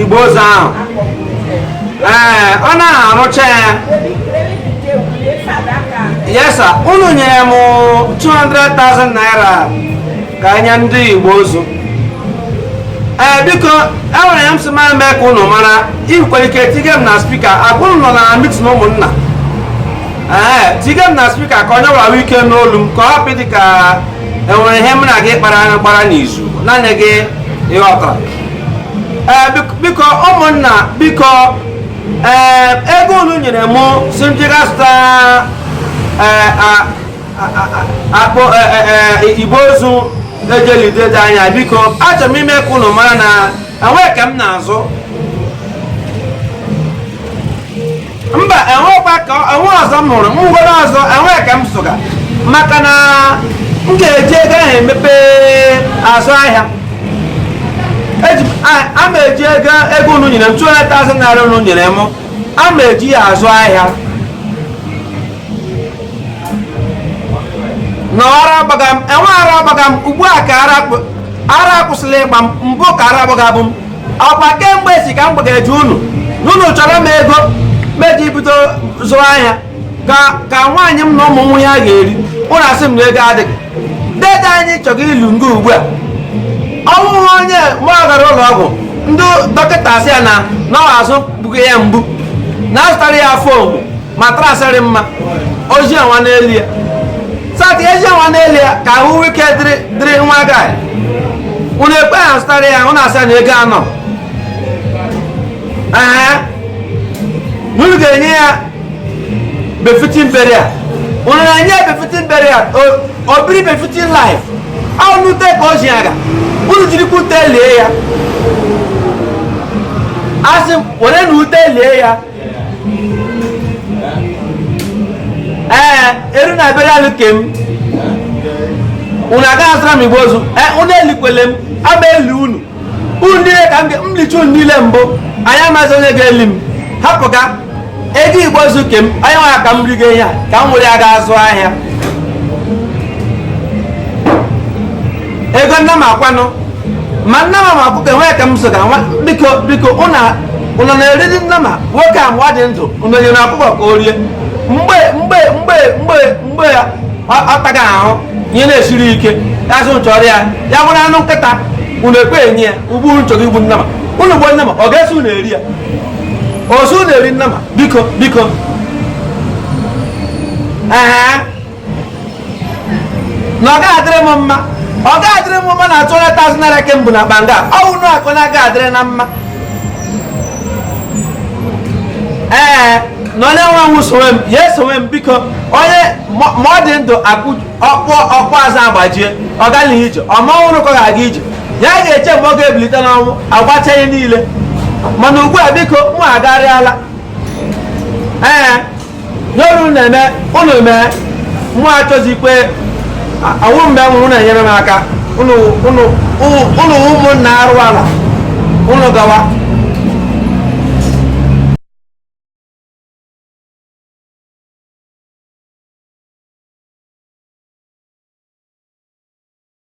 igbe ozu ahụ ee ọ naghị arụcha ya yes sir unu nyere m 200,000 naira ka e nye ndị igbe ozu ee biko enwere ihe m sị ma mee ka unu mara i nwere ike tige m na speaker ọkwa unu nọ na meeting ụmụnna ee tige m na speaker ka onye ọbụla nwee ike nụ olu m ka ọ hapụ ịdị ka enwere ihe m na gị kpara gbara n'izu naanị gị ịghọtara eh, biko ụmụnna biko eh, ego unu nyere m sị m ji ga zụta akpụ igbe ozu e ji eli dede anyị biko achọrọ m ime ka unu mara na enweghị nke m na-azụ mba enwekwa ka enwe ọzọ m hụrụ m nwere ọzọ enwe ke m zụga maka na m ga-eji ego ahụ emepe azụ ahịa Eji m- a- a ma eji ego ego unu nyere m 200,000 naira unu nyere m a ma eji ya azụ ahịa na ara agbaga m enwe ara agbaga m ugbu a ka ara akpụ- ara akwụsịla ịgba m mbụ ka ara gbagabu m ọkwa kemgbe si ka m gbageje unu unu chọrọ m ego m eji bido zụwa ahịa ka nwaanyị m na ụmụ nwee ihe ha ga-eri unu asị m na ego adịghị dede anyị chọrọ ili nga ugbu a ọ wụhụ onye ma ọ gara ụlọ ọgwụ ndị dọkịta asị ya na na azụ gbuga ya mgbu na azụtara ya foam mattress rị mma o ji nwa n'elu ya so that eji nwa n'elu ya ka ahụ ike dịrị dịrị nwa gaị unu ekwe azụtara ya unu asị na ego anọ ee unu ga-enye ya befitting burial unu na-enye ya befitting burial o biri befitting life ọ n'ute ka o ji aga unu jirikwa ute lie ya asị m werenụ ute lie ya ee e ruo na burial ke m unu agaghị azụra m igbe ozu ee unu elikwele m ama eli unu unu niile ka m licha unu niile mbụ anyị amazi onye ga-eli m hapụ ka ego igbe ozu ke m ọ ya wụ ke m riga ihe a ka m were ya ga azụ ahịa ego nnama kwanụ ma nnama ọkụkọ enwe ke m zụga nwa biko biko unu na-eri nnama nwoke a mgbe ọ dị ndụ unu nyere ọkụkọ ka o rie mgbe mgbe mgbe mgbe mgbe ya ọ taga ahụhụ ihe na-esiri ike a sị unu chọọrọ ya ya bụrụ anụ nkịta unu ekwe enye ya ugbu a unu chọrọ igbu nnama unu gbuo nnama ọ ga-eso unu eri ya ozu na-eri nnama biko biko ee na ọ ga-adịrị m mma ọ ga-adịrị m mma na 200,000 naira ke mbụ na banga ọwụ nụ akụ na ọ ga-adịrị m mma ee na onye nwe nwụ sowe m ya esowe m biko onye ma ma ọ dị ndụ akụ ọkpụkpụ azụ agbajie ọ gaghị ije ọ ma ọ nwụrụ ka ọ ga-aga ije ya ga-eche mgbe ọ ga-ebilite n'ọnwụ agbacha ihe niile mana ugbu a biko mụ agarịala ee n'oru na-eme ụnụ mee mụ achọzikwe ọ wụ mgbe m nwụrụ na-enyere m aka ụnụ ụmụnna arụwala ụnụ gawa